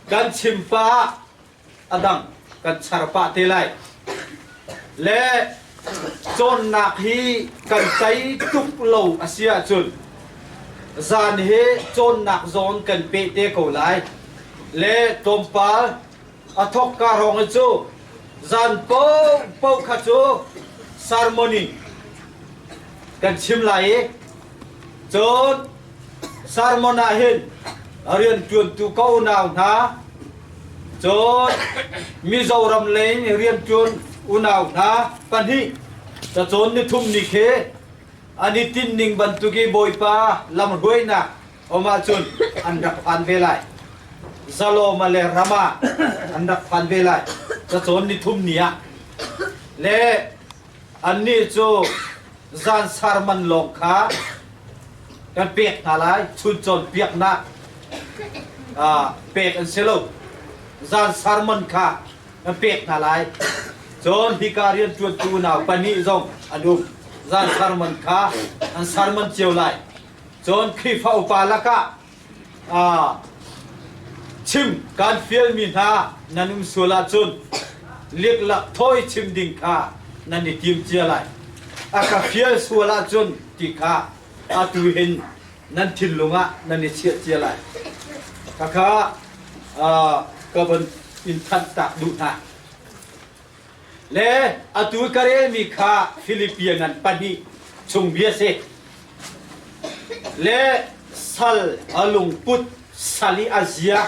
kan chim pah ah a dang kan char pah te lai le cawnnak hi kan tei tuk lo a si ahcun zan hi cawnnak zawn kan peh te ko lai le tlawmpal a thawk ka rong cu zan popo kha cu sermoni kan chim lai i cun Sermon ah hin rianṭuantu ka unau hna, cun Mizoram leng i rianṭuan unau hna pahnih cacawn nithum ni khi an i tinhning bantuk i Bawipa lamhruainak um ahcun an rak phan ve lai. Zalawma le Rama an rak phan ve lai, cacawn nithum ni ah. Le Annih cu zansar man lawng kha kan pek hna lai. Chun cawnpiaknak pek an si lo. Zansar man kha kan pek hna lai. Cun hika rianṭuantu unau pahnih zong an um. Zansar man kha an ser manh cio lai. Cun Khrihfa upa lakah chim kan fialmi hna nan um sual ahcun liklak thawi chim ding kha nan i tim cia lai a ka fial sual ahcun ti kha atu hin nan thinlung ah nan i chiah cia lai khakha ka van in thanh tak duh hna Le atu ka relmi kha Filipian an pahnih chung bia a si. Le sal a lungput sal i a zia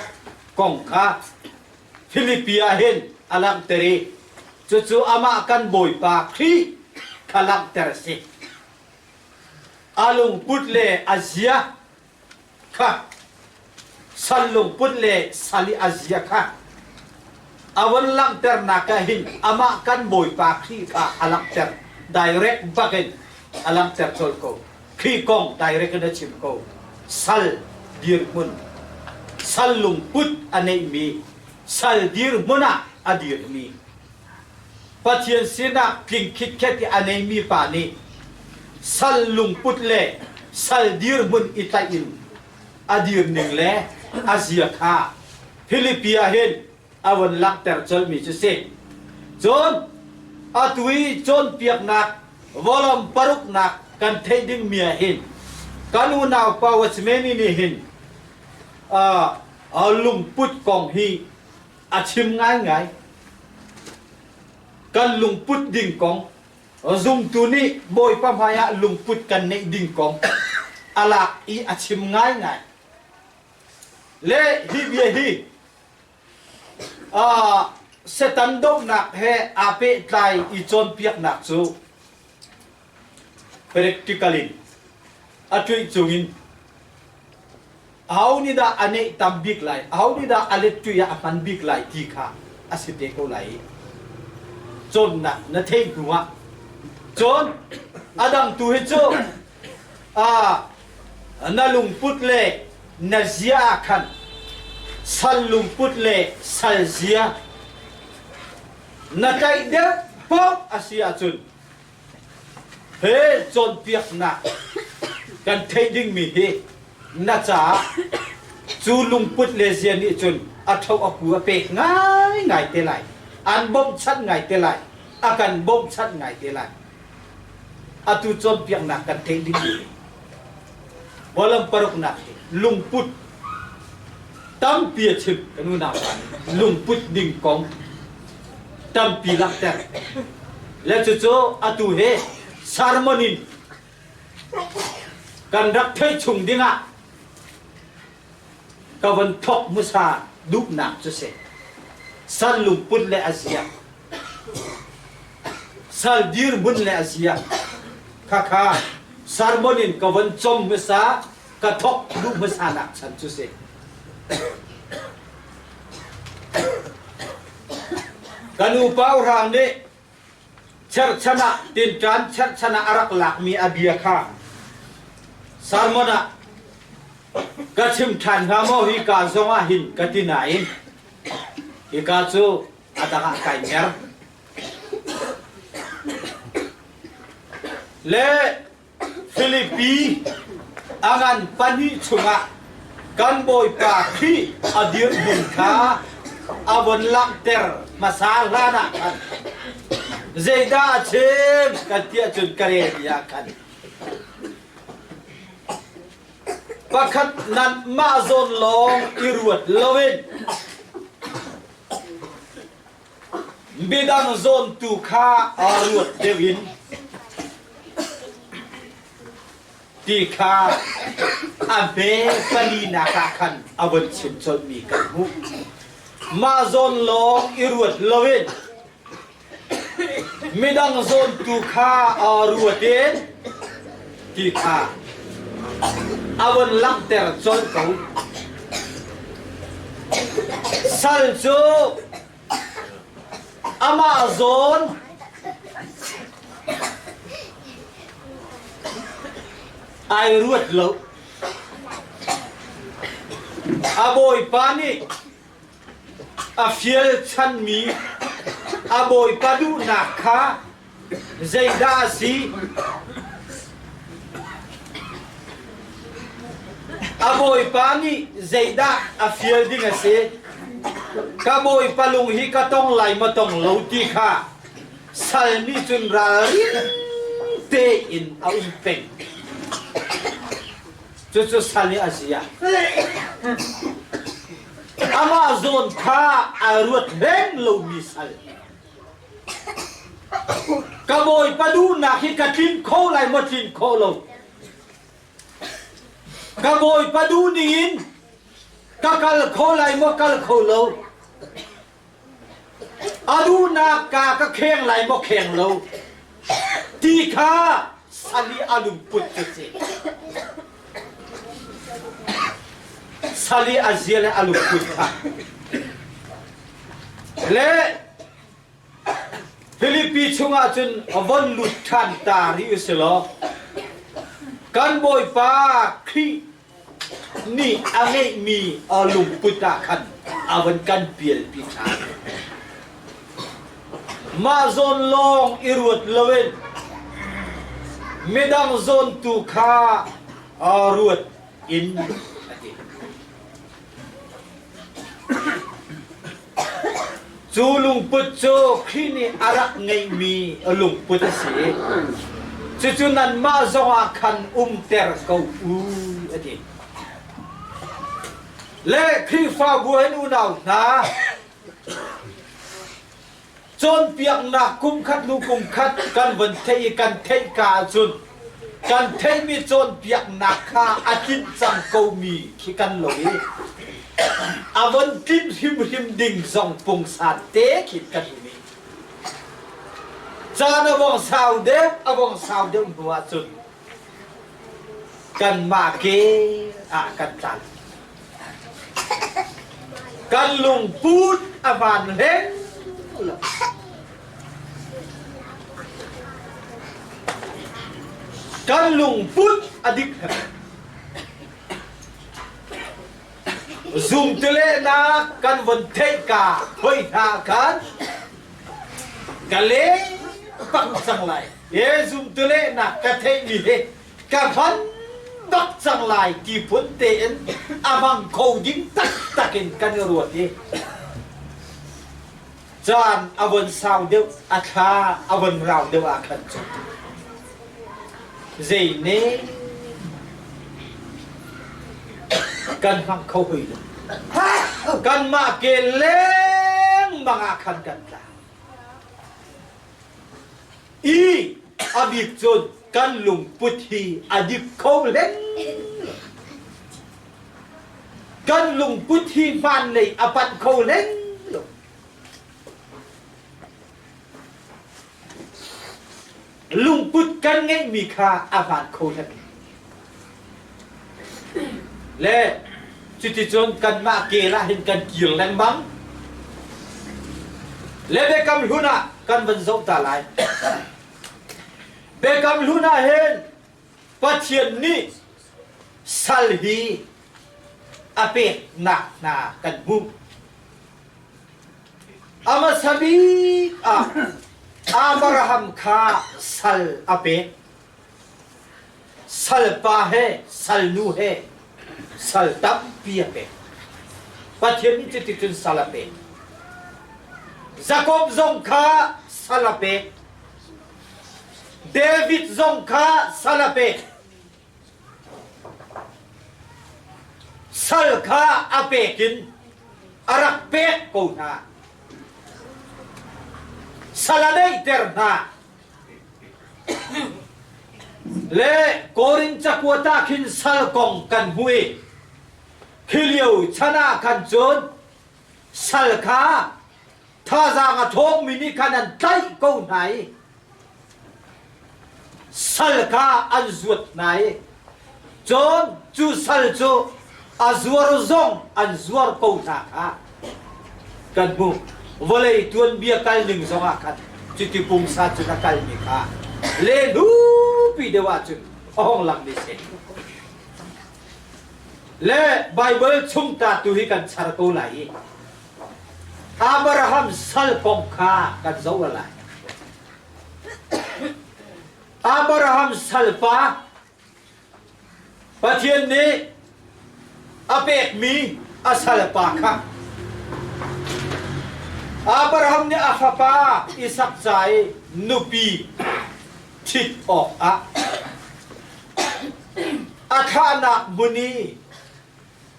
kong kha Filipi ah hin a langhter i cucu amah kan Bawipa Khrih kha langhter a si. A lungput le a zia sal lungput le sal i a zia kha a von langhternak ah hin amah kan bawipa Khrih kha a langhter direct bak in a langhter colh ko Khrih kong direct in a chim ko sal dirhmun sal lungput a neihmi sal dirhmun ah a dirmi Pathian sinah tling khitkhet i a neimi pa nih sal lungput le sal dirhmun i tlaih in a dirning le a zia kha Filipi ah hin a vun langhter colhmi cu si. Cun atu i cawnpiaknak vawlawm paruknak kan theih dingmi ah hin kan unau Pau a simi nih hin uh, lungput kong hi A chim ngaingai. Kan lungput ding kong, zumtu nih Bawipa hmaiah lungput kan neih ding kong a lak i a chim ngaingai. Le hi bia hi uh, Setan dohnak he aa pehtlai i cawnpiaknak cu practical in a cuih cung in aho nih dah a neih tam bik lai aho nih dah a let cuih ah a hman bik lai ti kha a si te ko lai i cawnnak na theih hnu ah cun a dang tu hi cu a na lungput le na zia ah khan sal lungput le sal zia na tlaih deuh pok a si ahcun He cawnpiaknak kan theih dingmi hi na caah cu lungput le zia nih cun a tho a pu a pek ngaingai te lai. An bawmhchanh ngai te lai. A kan bawmhchanh ngai te lai. Atu cawnpiaknak kan theih dingmi Bawlam paruknak hi lungput tampi a chim kan unau pa nih lungput ding kong tampi langhter le cucu atu he sermon in kan rak theih chung dingah ka von thawk hmasa duhnak cu si. Sal lungput le a ziak. Sal dirhmun le a ziak. Khakha sermon in ka von com hmasa ka thok duh hmasa nak chan cu si. Ka nu pa urang nih Cherhchan ah tinṭan cherhchan ah a rak lakmi a bia kha sermon ah ka chim ṭhan hnga maw? Hika zongah hin ka ti nain hika cu a dangah kai mer. Le Filipi a ngan pahnih chungah kan Bawipa Khrih a dirhmun kha a vun langhter hmasa hlanah khan zeidah a chim ka ti ahcun ka relmi ah khan pakhat nanmah zawn lawng i ruat loin Midang zawntu kha aa ruat deuh in ti kha a hme palinak ah khan a vun chim colhmi kan hmuh. Mah zawn lawng i ruat loin midang zawntu kha aa ruat in A von langhter colh ko. Sal cu amah zawn ai ruat lo. A bawipa nih A fial chanmi a bawipa duhnak kha zeidah a si? A bawipa nih zeidah a fial ding a si? Ka bawipa lung hi ka tong lai maw tong lo ti kha sal nih cun ralrin tein a um peng. Cucu sal hi a si ah amah zawn kha a ruat beng lomi sal. Ka bawipa duhnak hi ka tlin kho lai maw tlin kho lo? Ka bawipa duh ning in ka kal kho lai maw kal kho lo? A duhnak ka ka kheng lai maw kheng lo ti kha sali a lungput ka si. Sali a zia le a lungput kha. Le Philippi chungah cun von lut ṭhan ta rih u si law kan Bawipa Khrih Nih a ngeihmi lungput ah khan a van kan pialpi ṭhan. Mah zawn lawng i ruat loin midang zawn tu kha ruat in a ti. Cu lungput cu Khrih nih a rak ngeihmi lungput a si i cucu nanmah zongah khan umter ko u a ti. Le Khrihfabu hin unau hna, Cawnpiaknak kumkhat hnu kumkhat kan van theih i kan theih ka ahcun kan theihmi cawnpiaknak kha a tlinh cang komi khi kan lo i a von tlinh hrimhrim ding zong pungsan te khi kan um i caan a vong sau deuh a vong sau deuh hnu ahcun kanmah ke ah kan tlan. Kan lungput a van hleng lo. Kan lungput a dik hem. Zumtelehnak kan von theih ka hoi hna khan ka le pak cang lai. He zumtelehnak ka theih mi he ka van bak cang lai ti phun tein a bang kho ding taktak in kan i ruat i caan a von sau deuh a thla a von rau deuh ah khan cu zei ne kan hmang kho hui lo kan mah ke leng bang ah khan kan tla I a bik cun kan lungput hi a dik kho len. Kan lungput hi hmaan lei a pat kho len lo. Lungput kan ngeihmi kha a hmaan kho len. Le cuticun kanmah kel ah hin kan kir lengmang. Le Biakam hlun ah kan van zoh ta lai. Biakam hlun ah hin Pathian nih sal hi a peknak hna kan hmuh. Amasa bik ah Abraham kha sal a pek. Salpa he salnu he sal tampi a pek. Pathian cuti cun sal a pek. Jakob zong kha sal a pek. David zong kha sal a pek. Sal kha a pek in a rak pek ko hna. Sal a neihter hna. Le Korin cakuat ah khin sal kong kan hmui. Khi lio chan ah khan cun sal kha thazang a thawngmi nih khan an tlaih ko hna i sal kha an zuat hna i Cun cu sal cu a zuar zong an zuar ko hna kha kan hmuh. Vawlei tuanbia kalning zongah khan cuti pungsa cun a kalmi kha le nupi deuh ahcun a hong lang ne seh. Le Baibal chung ta tu hi kan char ko lai i Abraham sal kong kha kan zoh lai. Abraham salpa Pathian nih a pekmi a salpa kha Abraham nih a fapa Isak ca i nupi ṭhit awkah a thahnak hmun i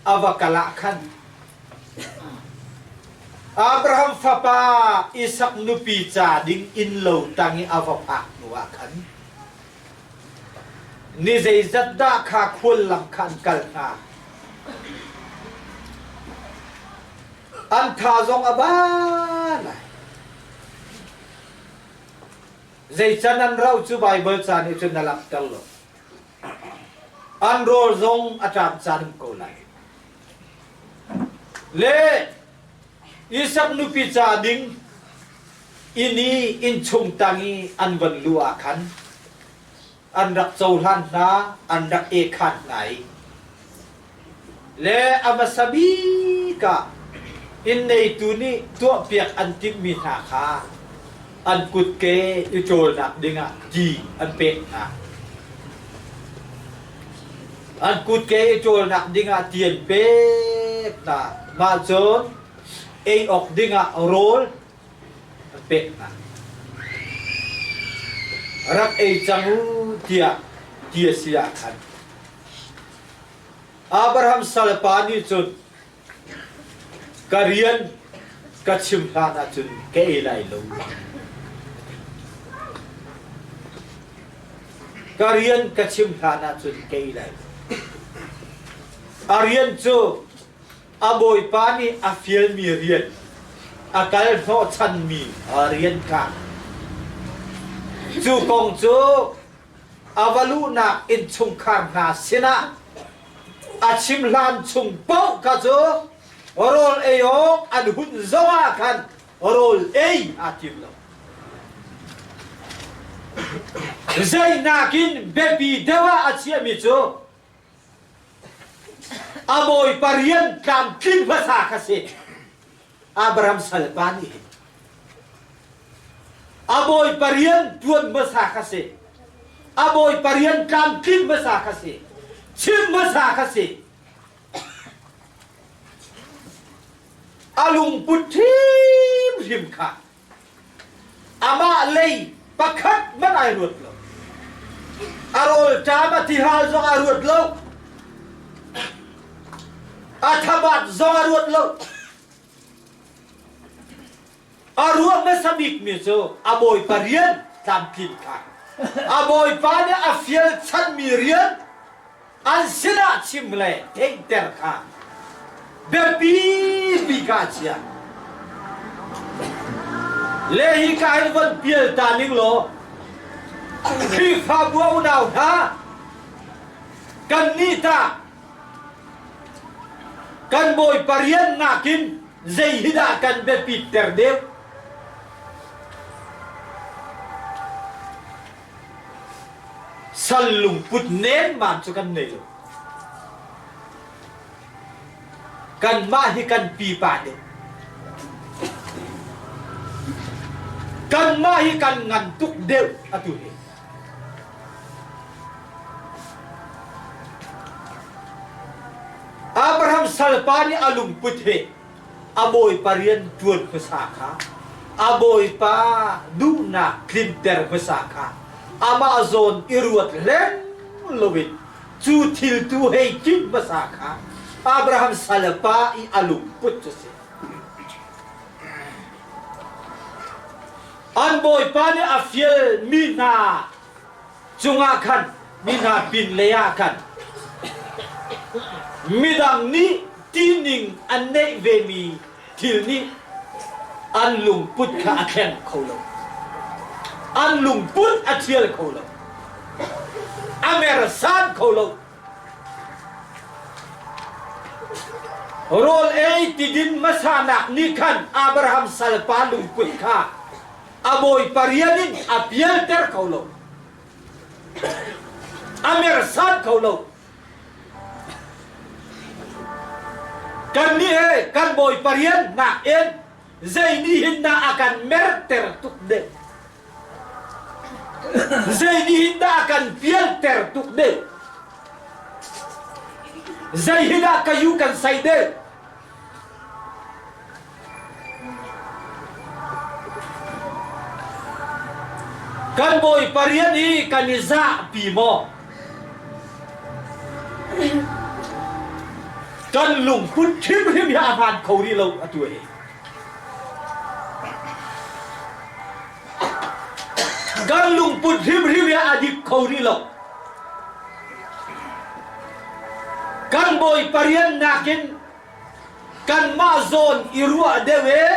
a va kal ah khan Abraham fapa Isak nupi ca ding innlo tang i a va phak hnu ah khan ni zeizat dah kha khual lam khan kal hna an tha zong a ban zeican an rau cu Baibal ca nih cun na langhter lo An rawl zong a ṭam caan ko lai. Le Isak nupi ca ding inn i innchung tang i an van lu ah khan an rak cohlan hna, an rak e khan hna i le a hmasa bik ah inn neitu nih tuahpiak an timhmi hna kha an kutke i ṭawlnak dingah ti an pek hna. An kutke i ṭawlnak dingah ti an pek hna. Mah cun ei awk dingah rawl an pek hna. Rak ei cang u tiah ti a si ahkhan. Abraham salpa nih cun, Ka rian ka chim hlan ah cun ka ei lai lo. Ka rian ka chim hlan ah cun ka ei lai lo. A rian cu a bawipa nih a fialmi rian, a kal hnawhchanmi rian kha. Cu kong cu a va luhnak innchungkhar hna sinah a chim hlan chung paoh kha cu rawl ei awk an hun zongah khan rawl ei aa tim lo. Zeinak in biapi deuh ah a chiahmi cu a bawipa rian tlamtlin hmasa kha si. Abraham salpa nih hin a bawi parian tuan hmasa kha si a bawi parian tlamtlin hmasa kha si chim hmasa kha si a lungput hrimhrim kha Amah lei pakhat hmanh ai ruat lo. A rawlṭam a tihal zong a ruat lo. A thabat zong a ruat lo. A ruang hmasa bikmi cu a bawipa rian tlamtlin kha. A bawipa nih a fial chanmi rian an sinah chim le theihter kha biapimi ka chia le hi ka hin von pial ta ning law Khrihfabu a unau hna kan nih ta kan bawi parian nakin zei hi dah kan biapit ter deuh Sal lungput nengman cu kan nei lo. Kanmah hi kan pipa nih kanmah hi kan ngan tuk deuh atu hi. Abraham salpa nih a lungput hi a bawipa rian ṭuan hmasa kha a bawipa duhnak tlinter hmasa kha amah zawn i ruat hleng loin cu thil tu hei tlinh hmasa kha Abraham salpa i a lungput cu a si. An bawipa nih a fial mi hna cungah khan mi hna pinlei ah khan midang nih ṭihning an neih vemi thil nih an lungput kha a thleng kho lo. An lungput a ṭhial kho lo. A mersan kho lo. Rawl ei tidin hmasa nak nih khan Abraham salpa lungput kha a bawipa rian in a bialter kho lo a mersan kho lo kan nih he kan bawipa rian nak in zei nih hin dah a kan merter tuk ne zei nih hin dah a kan pialter tuk ne zei hin ah ka yu kan sai ne Kan bawi parian i kan i zahpi maw? Kan lungphun hrimhrim hi a hmaan kho rih lo atu hi. Kan lungput hrimhrim hi a dik kho rih lo. Kan bawi parian nakin kanmah zawn i ruah deuh e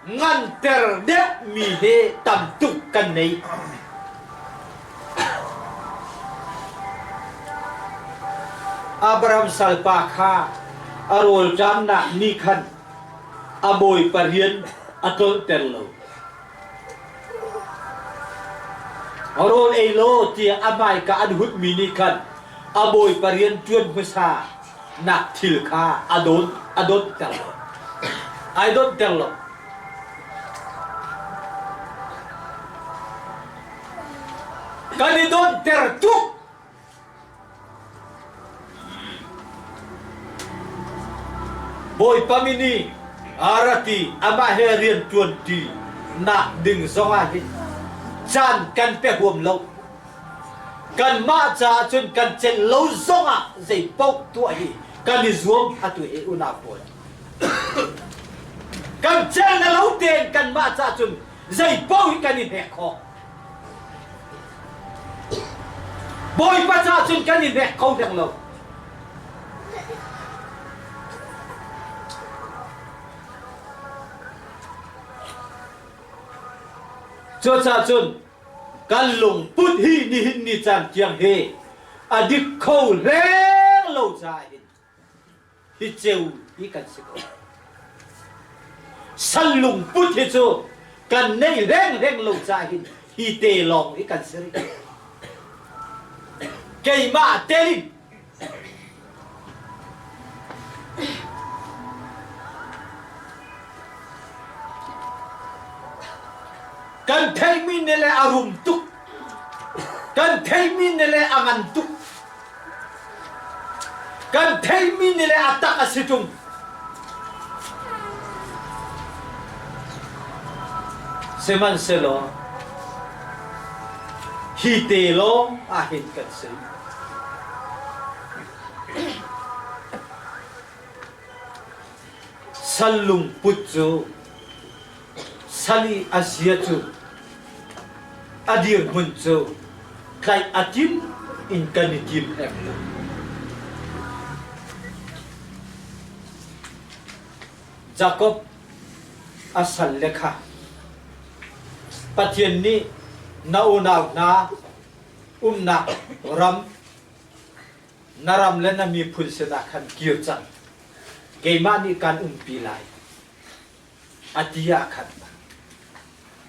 ngan ter deuh mi he tam tuk kan nei. Abraham salpa kha a rawlṭamnak ni khan A bawipa rian a tlolhter lo. Rawl ei law tiah a hmaika an hutmi nih khan a bawipa rian ṭuan hmasa nak thil kha a don a donter lo. Ai donter lo. Kan i donter tuk. Bawipa min i aa rat i amah he rian ṭuanṭi nak ding zongah hi caan kan pe huam lo. Kanmah caah cun kan celh lo zongah zeipaoh tuah hi kan i zuam atu i unau pawl. kan celh na lo tein kanmah caah cun zeipaoh hi kan i hnek khawh. Bawipa caah cun kan i nek kho deng lo. Cucaah cun kan lungput hi nihin ni caan tiang hi a dik kho leng lo caah hin Sal lungput hi cu kan nei rengreng lo cahin hi te lawng i kan si rih. Keimah telin kan theihmi ne le a rum tuk. Kan theihmi ne le a ngan tuk. Kan theihmi ni le a tak a si ṭung. Sihmanhsehlaw hi te lawng ahhin kan si. Sal lungput cu Sal i a zia cu a dirhmun cu tlaih a tim in kan i tim em lo. Jakob a salle kha Pathian nih na unau hna umnak ram na ram le na miphun sinah khan kir cang. Keimah nih kaan umpi lai. a ti ah khan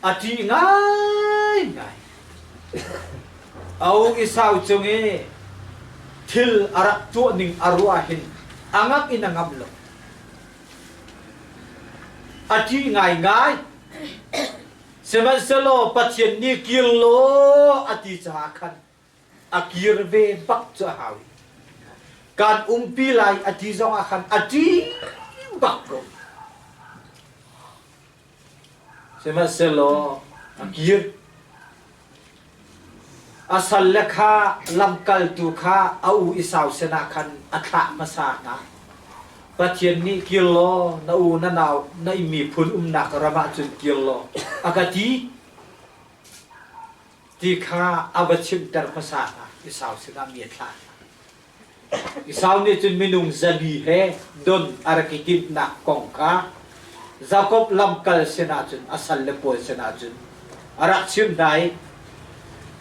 a ṭi ngaingai Au i sau cung i thil a rak tuah ning a ruah hin a ngak in a ngam lo a ṭi ngaingai sihmanhsehlaw Pathian nih kir law a ti caah khan a kir ve bak cu a hau. Kan umpi lai a ti zong ah khan a ṭi bak ko. Sihmanhsehlaw a kir. A salle kha lamkaltu kha a u i sausen ah khan a thlah hmasa hna. Pathian nih kir law na u na nau na i miphun umnak ram ah cun kir law a ka ti. ti kha a va chimhter hmasa hna. Esau sinah mi a thlah hna. Esau nih cun minung zabi he don a rak i timhnak kong kha Jakob lamkal sinah cun a salle pawl sinah cun a rak chimh hna i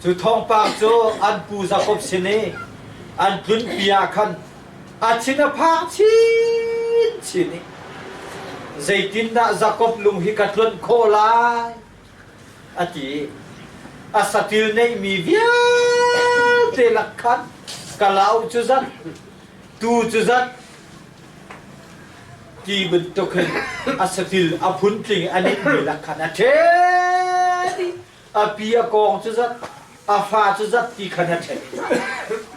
cu thawngpang cu an pu Jakob sin i an tlunpi ah khan a thin a phang chinchin i zeitindah Jakob lung hi ka tluanh khawh lai a ti i a saṭil neihmi vialte lak khan kalau cu zat tu cu zat ti bantuk hin a satil a phun tling a ninmi lak khan a ṭhen i a pi a kawng cu zat a fa cu zat ti khan a ṭhen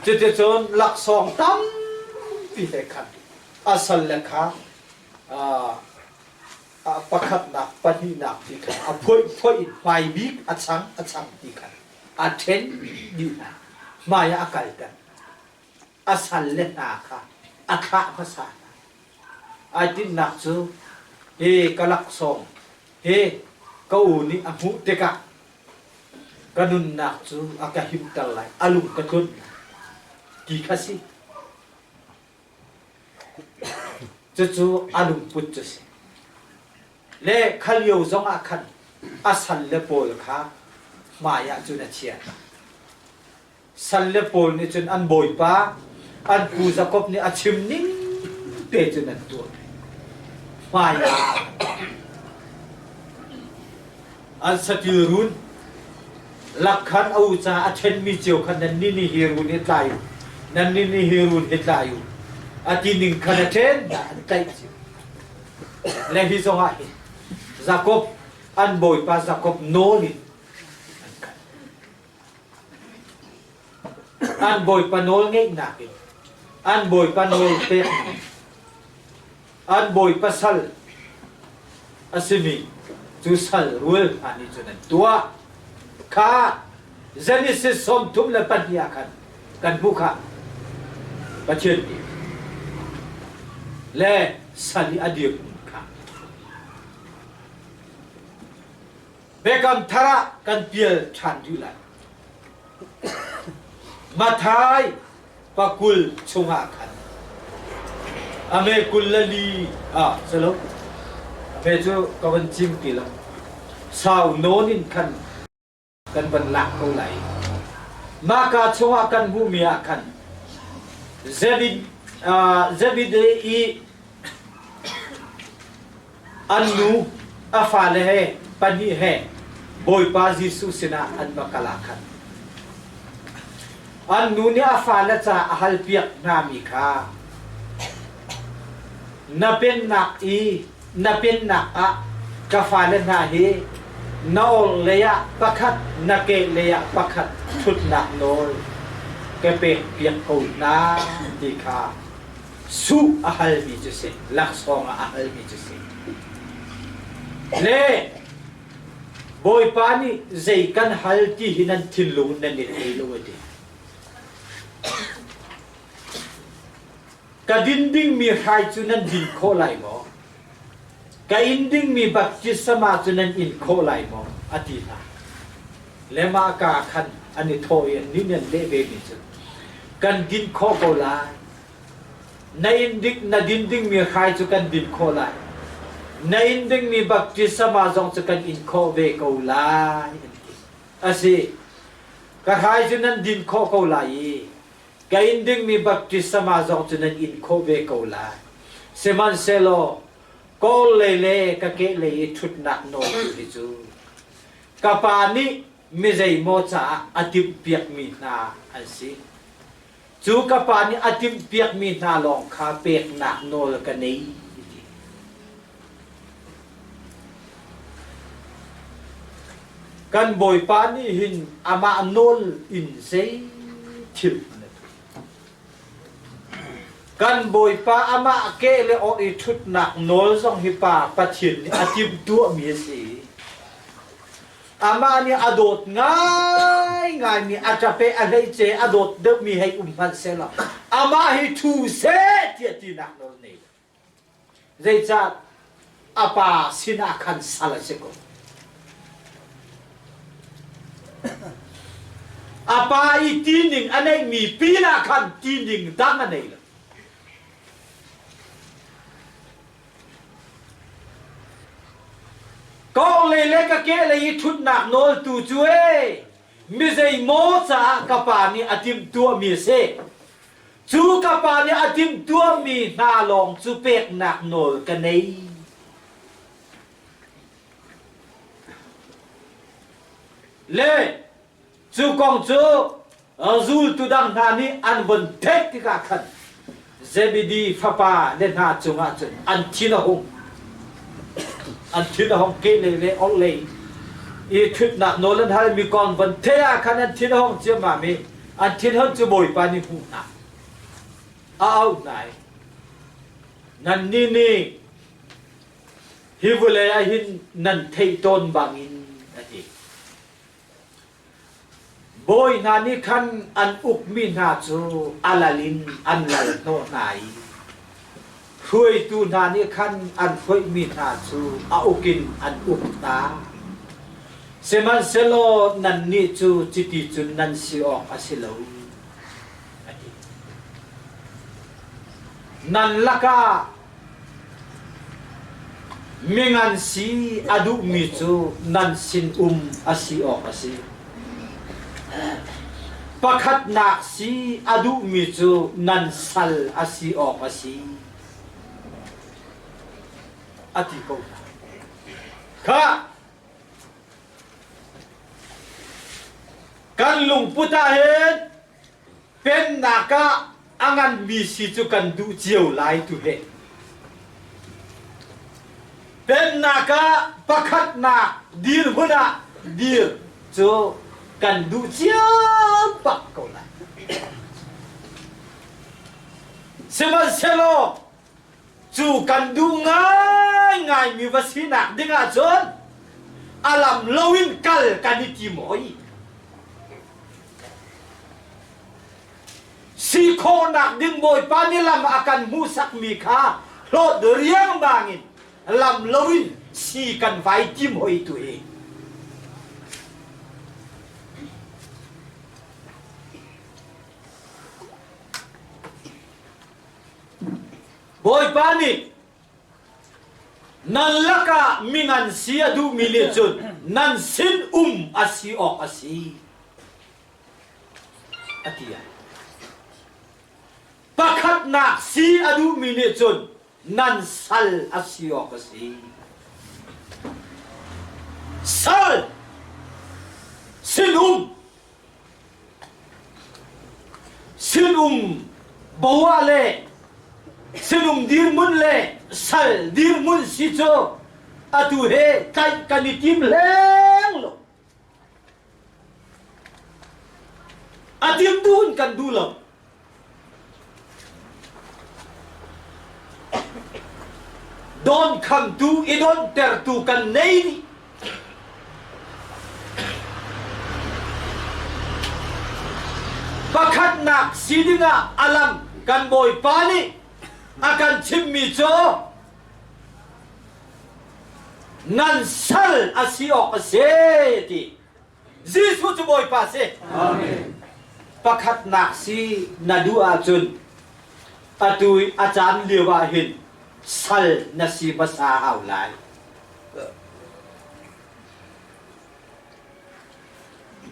cuticun laksawng tampi he khan a sal le kha ah pakhatnak, pahnihnak ti kha a phoihphoih in hmai bik a chang a chang ti kha a ṭhen dih hna, hmai ah a kalter. A salle hna kha a thlah hmasa hna. Ai tinhnak cu, hi ka laksawng, hi ka u nih a hmuh tikah ka nunnak cu a ka himter lai, a lung ka tlunh lai, ti kha si. Cucu a lungput cu a si. Le kha lio zong ah khan a sal le pawl kha hmaiah cun a chiah. Sal le pawl nih cun an bawipa, an pu Jakob nih a chim ning te cun an tuah. Hmaiah an satil run lakkhan a u ca a ṭhenmi cio khan nan nih nih hi run hi tlai u nan nih nih hi run hi tlai u a ti ning khan a ṭhen tlaih cio le hi zongah hin Jakob an bawipa Jakob nawl in an bawipa nawl ngeihnak in an bawipa nawl pek an bawipa sal a simi cu sal rul hna nih cun an tuah kha Genesis sawm thum le pahnih ah khan kan hmuh kha Pathian nih le sal i a dirhmun kha Biakam thar ah kan pial ṭhan rih lai. Mathai pakul chungah khan ame kul le li ah salo ame cu ka van chim ti lo sau nawn in khan kan van lak ko lai maka chungah kan hmuhmi ah khan Zebed uh, Zebede i An nu, a fale he, pahnih he Bawipa Jesuh sinah an va kal ah khan an nu nih a fale ca a halpiak hngami kha na pennak i na pennak ah ka fale hna hi na or leiah pakhat na ke leiah pakhat ṭhutnak nawl ka pek piak ko hna ti kha Suh a halmi cu si, laksawng ah a halmi cu si. Le Bawipa nih zei kan hal ti hi nan thinlung in nan i thei lo a ti. Ka din dingmi hrai cu nan din khawh lai maw? Ka in dingmi baptisma cu nan in khawh lai maw? a ti hna. Le mah kaa khan an i thawh i annih nih an leh vemi cu, Kan din khawh ko lai. Na in dik na din dingmi hrai cu kan din khawh lai. Na in dingmi baptisma zong cu kan in khawh ve ko lai, an ti. A si, ka hrai cu nan din khawh ko lai i ka in dingmi baptisama zong cu nan in khawh ve ko lai. Sihmanhsehlaw kawl lei le ka ke lei i ṭhutnak nawltu hi cu ka Pa nih mi zeimaw caah a timhpiakmi hna an si. Cu ka Pa nih a timhpiakmi hna lawng kha peknak nawl ka nei, a ti. Kan Bawipa nih hin amah nawl in zei thil kan Bawipa amah ke le awh i ṭhutnak nawl zong hi Pa Pathian nih a timhtuahmi a si i amah nih a dawt ngaingaimi a ṭape a hleice a dawt deuhmi hei um hmanh sehlaw amah hi thu seh tiah tinak nawl nei. Zeicah a pa sinah khan sal a si ko? A pa i tining a neihmi pinah khan tining dang a nei lo. Kawng lei le ka ke lei i ṭhutnak nawltu cu ee, mi zei maw caah ka pa nih a timhtuahmi a si? Cu ka pa nih a timhtuahmi hna lawng cu peknak nawl ka nei. Le cu kong cu zultu dang hna nih an von theih tikah khan Zebedi fapa le hna cungah cun an thin a hung an thin a hung kehlei le orhlei i ṭhutnak nawl an hal mi kong von theih ah khan an thin a hung ciammam i An thinhon cu Bawipa nih hmuh hna a au hna i nannih nih hi vawlei ah hin nan theih tawn bangin a ti. Bawi hna nih khan an ukmi hna cu a lalin an lal hnawh hna i Hruaitu hna nih khan an hruaihmi hna cu a uk in an uk hna. Sihmanhsehlaw nannih cu chiti cun nan si awk a si lo, a ti. Nan lakah mi ngan si a duhmi cu nan sinum a si awk a si. Pakhatnak si a duhmi cu nan sal a si awk a si. A ti ko hna. Kha kan lungput ah hin Pennak ah a nganmi si cu kan duh cio lai tu he. Pennak ah pakhatnak dirhmun ah dir cu kan duh cio bak ko lai. Sihmanhsehlaw Cu kan duh ngaingaimi va sinak ding ahcun a lam lo in kal kan i tim hoi. Si khawhnak ding Bawipa nih lam a kan hmuhsakmi kha hlawt riangmang in lam lo in si kan vai tim hoi tu hi. Bawipa nih nan lakah mi ngan si a duhmi nih cun nan sin um a si awk a si, a ti ai. Pakhatnak si a duhmi nih cun nan sal a si awk a si. Sal sinum sinum boa le sinum dirmun le sal dirmun si cu atu he tlaih kan i tim leng lo a tim tu in kan duh lo Don khamtu i donhtertu kan nei dih. Pakhatnak si dingah alam kan Bawipa nih a kan chimmi cu ngan sal a si awk a si ti Jesuh cu Bawipa si. Pakhatnak si na duh ahcun atu i a caan lio ah hin sal na si hmasa hau lai.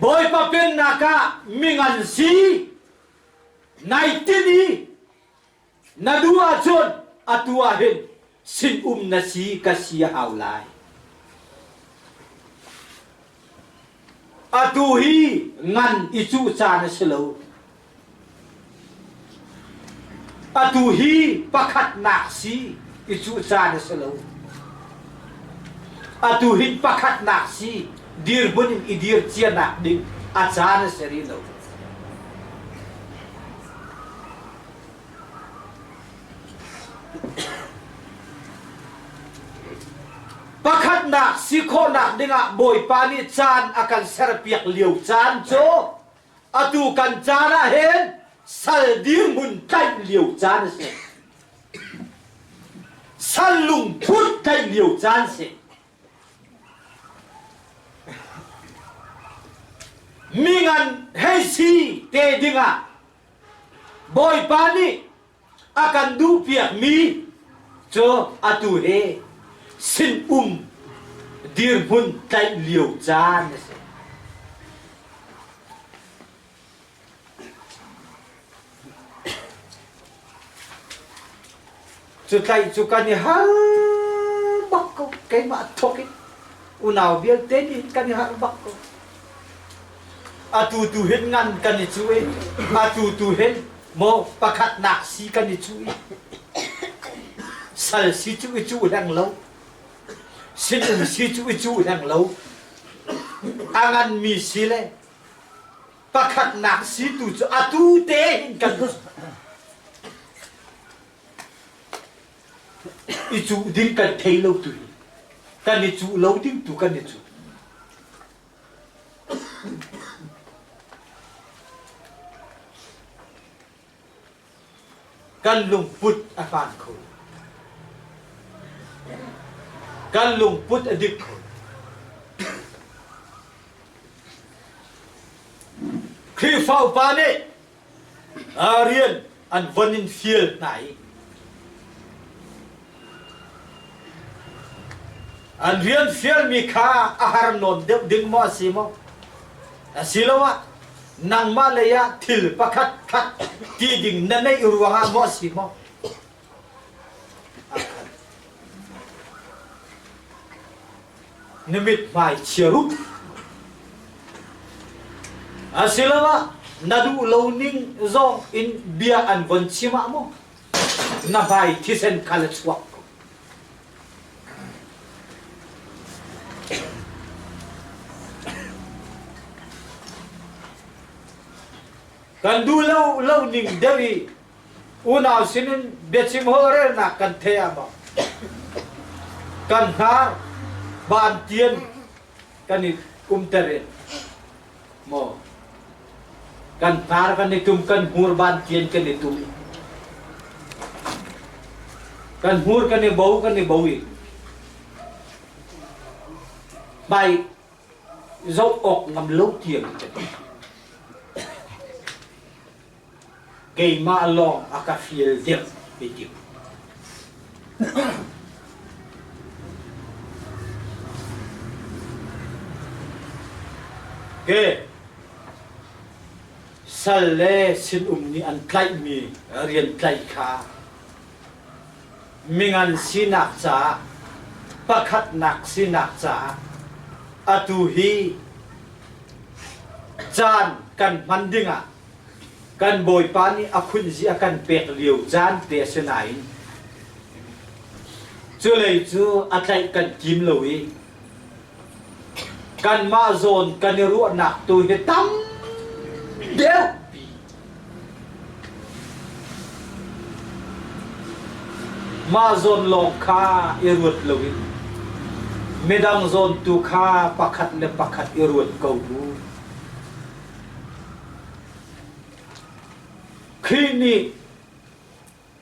Bawipa pennak ah mingan si nai tinh i Na duh ahcun atu ah hin sinum na si ka si a hau lai. Atu hi ngan i cuh ca na si lo. Atu hi pakhatnak si i cuh ca na si lo. Atu hi pakhatnak si dirbunh i dir cianak ding a ca na si rih lo. Pakhatnak si khawhnak dingah Bawipa nih caan a kan serpiak lio caan cu atu kan caan ah hin sal dirhmun tlanh lio caan a si. Sal lungput tlanh lio caan a si. Mi ngan hei si te dingah Bawipa nih a kan duhpiakmi cu atu he sinum dirhmun tlaih lio caan a si. Cu tlaih cu kan i har bak ko. Keimah thawk in unau vialte nih kan i harh bak ko. Atu tu hin ngan kan i cu i atu tu hin maw pakhatnak si kan i cu i sal si cu i cuh hleng lo sinum si cu i cuh hleng lo a nganmi si le pakhatnak si tu cu atu te hin kan I cuh ding kan thei lo tu hi kan i cuh lo ding tu kan i cuh. Kan lungput a fan kho. Kan lungput a dik kho. Khrihfa upa nih Ah rian an von in fial hna i an rian fialmi kha a har nawn deuh ding maw a si maw a si lo ah nangmah lei ah thil pakhat khat ti ding na neih ruang ah maw a si maw Na mithmai chia ruh. Asiloah na duh lo ning zong in bia an von chim ah maw na hmai thisen kha la chuak ko. Kan duh lo lo ning deuh i Unau sinin biachim holhrelnak kan theih ah maw kan hnar bantian kan i kumter in maw kan hnar kan i tum kan hmur bantian kan i tum kan hmur kan i bo kan i bo i bai zoh awk ngam lo tiang kan Keimah lawng a ka fial deuh i tim. Ke sal le sinum nih an tlaihmi rian tlaih kha mingan sinak caah pakhatnak sinak caah atu hi caan kan hman dingah Kan Bawipa nih a khunzi a kan pek lio caan te a si nain culei cu a tlaih kan tim lo i kanmah zawn kan i ruahnak tu hi tam deuhpi mah zawn lawng kha i ruat loin midang zawn tu kha pakhat le pakhat i ruat ko u. Khrih nih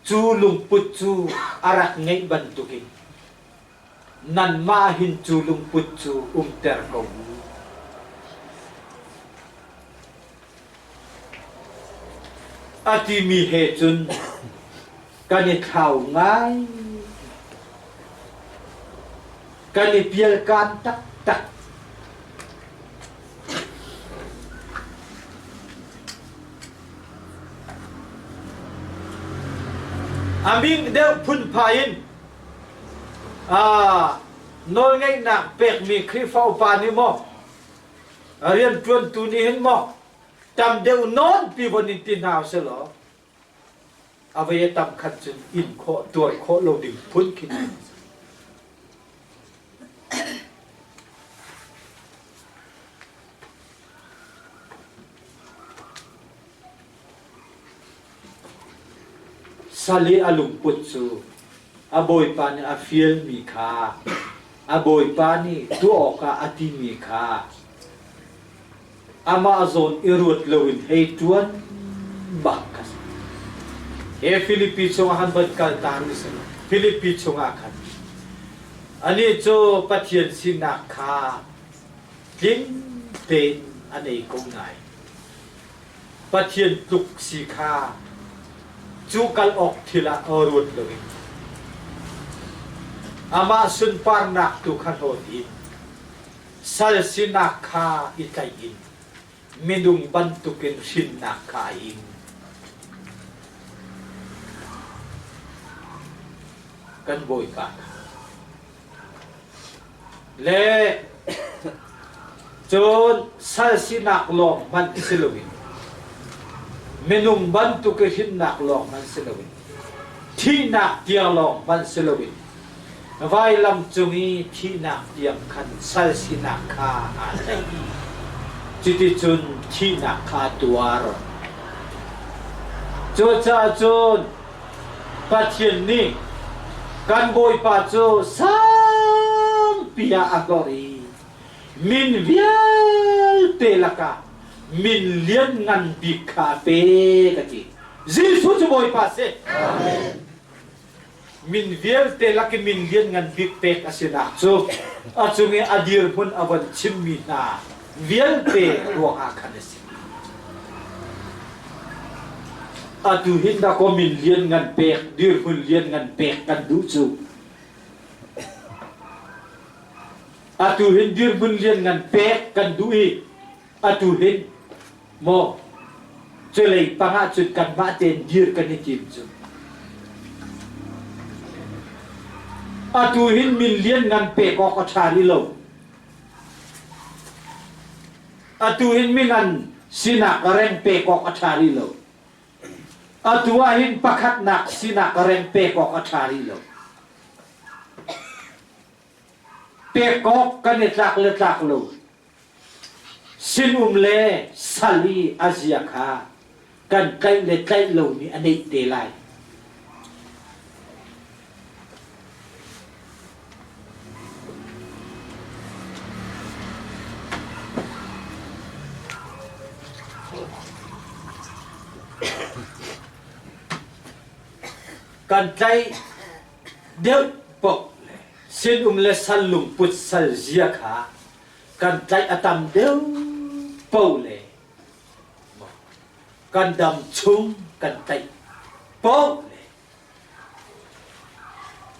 cu lungput cu a rak ngeih bantukin nanmah hin cu lungput cu umter ko u. A timi he cun kan i thlau ngai. Kan i pialkan taktak. Aming deuh phunpha in ah nawlngeihnak pekmi Khrihfa upa nih maw rian ṭuantu nih hin maw tam deuh nawn pi von in ti hna u sih law A vei a tam khat cu in khawh, tuar khawh lo ding phun khi a si. Sali a lungput cu a bawipa nih a fialmi kha a bawipa nih tuah awkah a timi kha amah zawn i ruat loin hei ṭuan bak kan he Filipi chungah han van kal ta ni si lo Filipi chungah khan anih cu Pathian sinak kha tling tein an ei ko ngai Pathian tluk si kha cu kal awk thil ah ruat loin amah sunparnak tu kha hlawt in Sal sinak kha i tlaih in midung bantukin hrinnak kha a ing. Kan Bawipa le cun sal sinak lawng hmanh si loin minung bantuk i hrinnak lawng hmanh si loin thihnak tiang lawng hmanh si loin Vailam cung i thihnak tiang khan sal sinak kha aa tlaih i cuticun thihnak kha a tuar. Cucaah cun Pathian nih kan Bawipa cu sangpi ah a hlorh i min vialte lakah min lianngan bik kha a pe ka ti. Jesuh cu Bawipa a si. Amen. Min vialte lakin min lianngan bik pek a sinak cu a cung i a dirhmun a von chimmi hna vialte ruangah khan a si. Atu hin da ko min lianngan pek, dirhmun lianngan pek kan duh cu. Atu hin dirhmun lianngan pek kan duh i atu hin maw culei pangah cun kanmah tein dir kan i tim cu atu hin min lian ngan pek awk a ṭha rih lo atu hin mi ngan sinak reng pek awk a ṭha rih lo atu ah hin pakhatnak sinak reng pek awk a ṭha rih lo pek awk kan i tlak le tlak lo Sinum le sal i a zia kha kan tlaih le tlaih lomi a neih te lai. kan tlaih deuh pok sinum le sal lungput sal zia kha kan tlaih a tam deuh po le kan dam chung kan tlaih po le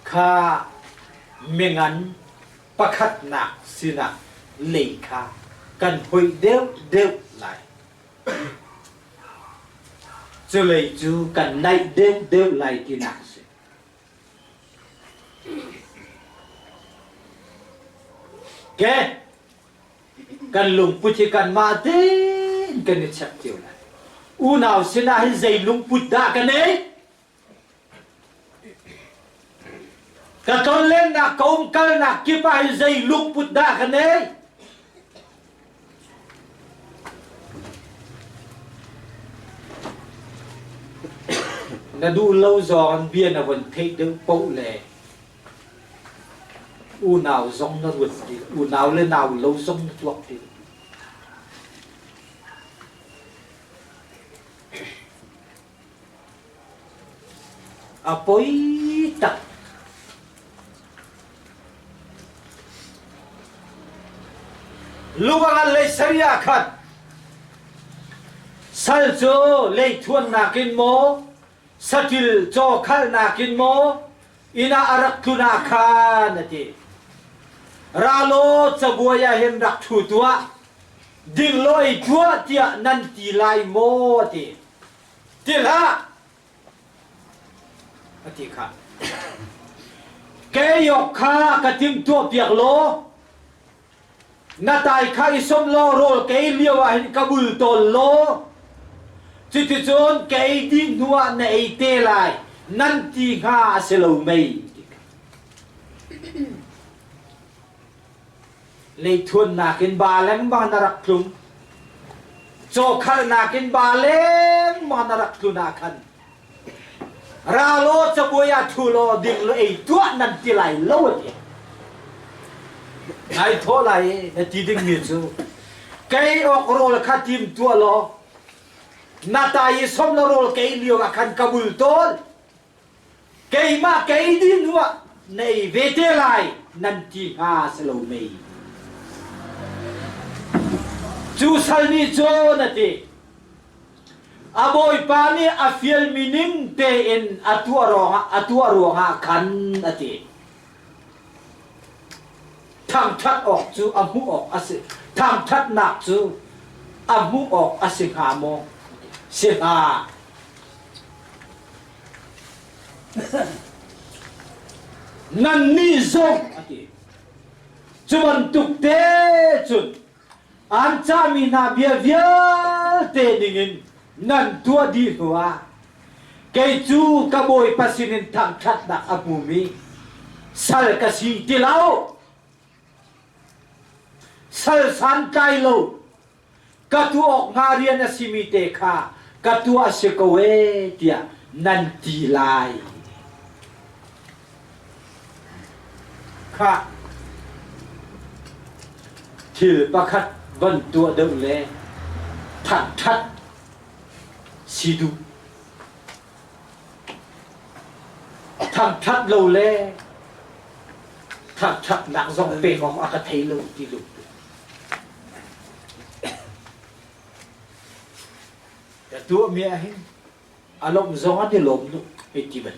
kha mengan pakhatnak sinah lei kha kan hoi deuh deuh lai culei cu kan naih deuh deuh lai tinak a si Okay. Kan lungput hi kanmah den kan i chek cio lai. Unau sinah hin zei lungput dah kan ei? Ka tonlennak ka umkalnak kip ah hin zei lungput dah kan ei? Na duh lo zong an bia na von theih deuh poh le unau zong na ruat ti, unau le nau lo zong na tuak ti. A poi tak. Luangan lei sari ah khat. Sal cu lei thuan nakin maw, satil caw khal nakin maw, ina arak tluna khan ati. Ralo cabuai ah hin rak thu tuah, dinglawi tuah tiah nan ti lai maw ati. Til ah a ti kha ke yok kha ka timtuah piak law na tai kha i som law rawl kei lio ah hin ka bul tawl law cuticun kei dih hnu ah na ei te lai nan ti hnga a si lo mei Leithuannak in ba lengmang na rak tlum. Cawkharnak in ba lengmang na rak tlun ah khan ralaw cabuai ah thu law ding lo ei tuah nan ti lai lo ti ngai thaw lai na ti ding mi cu kei ok rawl kha tim tua law na ta i som la rawl kei lio ah khan ka bul tawl Keimah kei ti hnu ah nei ve te lai nan ti hnga si lo mei? Cu sal nih cun a ti. A bawipa nih a fialmi ning tein a tuah ruangah a tuah ruangah khan a ti. Thangṭhat awk cu a hmuh awk a si. Thangṭhatnak cu a hmuh awk a si hnga maw? Si hnga. Nannih zong a ti. Cu bantuk te cun An cahmi hna bia vialte ningin nan tuah dih hnuah kei cu ka Bawipa sinin thangṭhatnak a hmumi sal ka si ti lo. Sal santlai lo ka tuah awk hnga rian a simi te kha ka tuah a si ko e tiah nan ti lai. Khah! Thil pakhat van tuah deuh le thangṭhat si duh. Thangṭhat lo le thangṭhatnak zong pek awk a ka thei lo ti lo. Ka tuahmi ah hin a lawmh zong an i lawm duh, ei ti ban.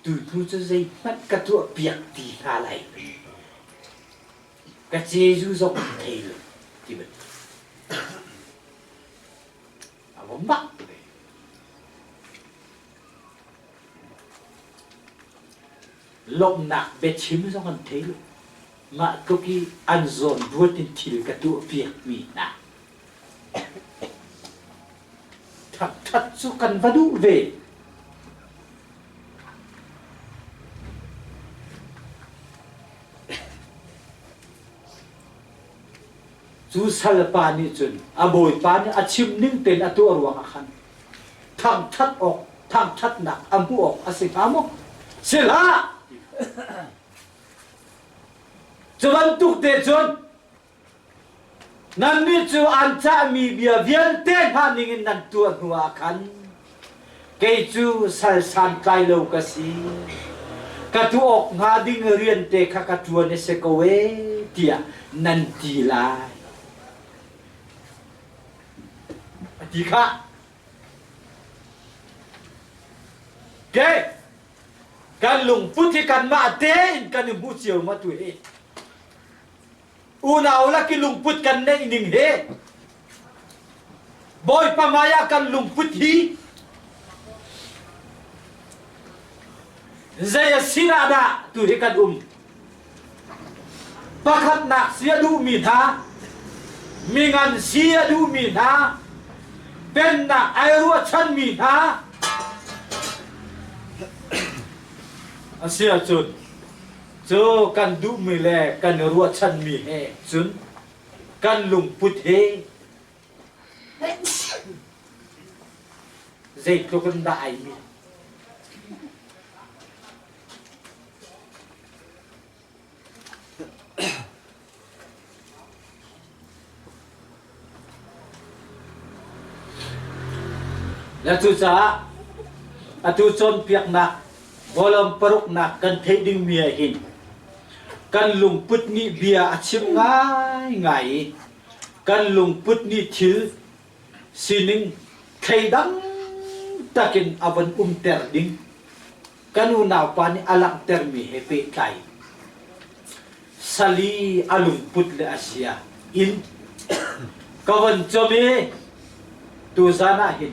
Tutu cu zeihmanh ka tuahpiak ti hna lai. Ka Jesuh zong a thei lo ti bantuk. A va mak ve. Lawmhnak biachim zong an thei lo. Mah tluk i an zawnruat in thil ka tuahpiakmi hna Ṭhaṭhat cu kan va duh ve. Cu salpa nih cun a bawipa nih a chim ning tein a tuah ruangah khan thangṭhat awk, thangṭhatnak a hmuh awk a si hnga maw? Si hlah! Cu bantuk te cun Nannih cu an cahmi bia vialte hna ningin nan tuah hnuah khan kei cu sal santlai lo ka si. Ka tuah awk hnga ding riante kha ka ṭuan a si ko e tiah nan ti lai. A ti khah. Okay. Kan lungput hi kanmah tein kan i hmu cio ma tu hi. Unau laki lungput kan neih ning he Bawipa maya kan lungput hi zei a si dah dah tu hi kan um pakhatnak si a duhmi hna mingan si a duhmi hna pennak ai ruahchanmi hna a si ahcun cu kan duhmi le kan i ruahchanmi he cun kan lungput hi zeitluk in dah ai mi Na cucaah atu cawnpiaknak vawlawm paruknak kan theih dingmi ah hin kan lungput nih bia a chim ngaingai i kan lungput nih thil sining thleidang takin a von umter ding kan unaupa nih a langhtermi he pehtlai sali a lungput le a sia in ka von com i tuzan ah hin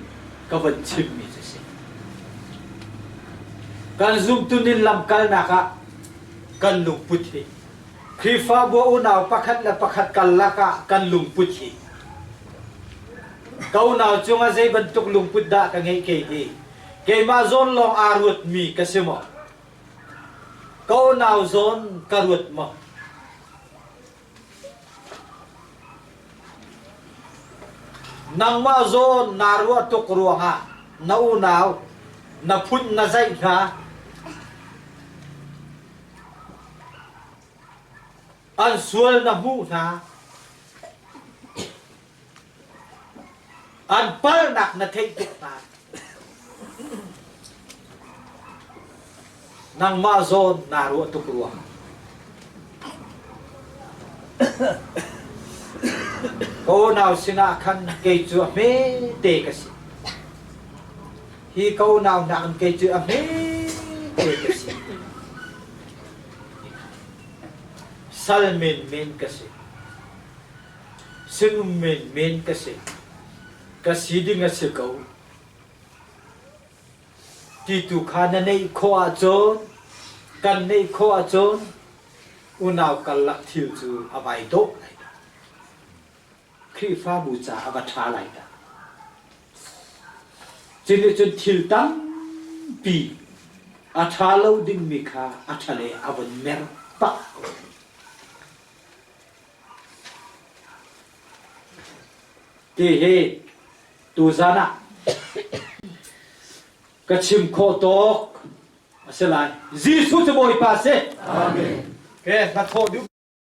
ka von chimmi cu si kan zumtun in lamkalnak ah kan lungput hi Khrihfabu unau pakhat le pakhat karlak ah kan lungput hi ka unau cungah zei bantuk lungput dah ka ngeih kei hi Keimah zawn lawng aa ruatmi ka si maw? Ko nau zawn ka ruat maw? Nangmah zawn naa ruah tuk ruangah na unau na phun na zaih hna. An sual na hmuh hna. An palnak na theih tuk hna. Nangmah zawn naa ruah tuk rua. Ko nau sinah khan kei cu a hme te ka si. Hi ko nau nak khan kei cu a hme te ka si. Sal men men ka si. Sinum menmen ka si. Ka si ding a si ko. Ti tu kha na neih khawh ahcun, kan neih khawh ahcun, unau karlak thil cu a vai dawh lai dah. Khrihfabu ca a va ṭha lai dah. Cu nih cun thil tampi a ṭha lo dingmi kha a ṭhale a von mer pah. Ti hi tuzan ah ka chim khawh tawk a si lai. Jesuh cu Bawipa a si. Amen. Okay, hna thawh duh.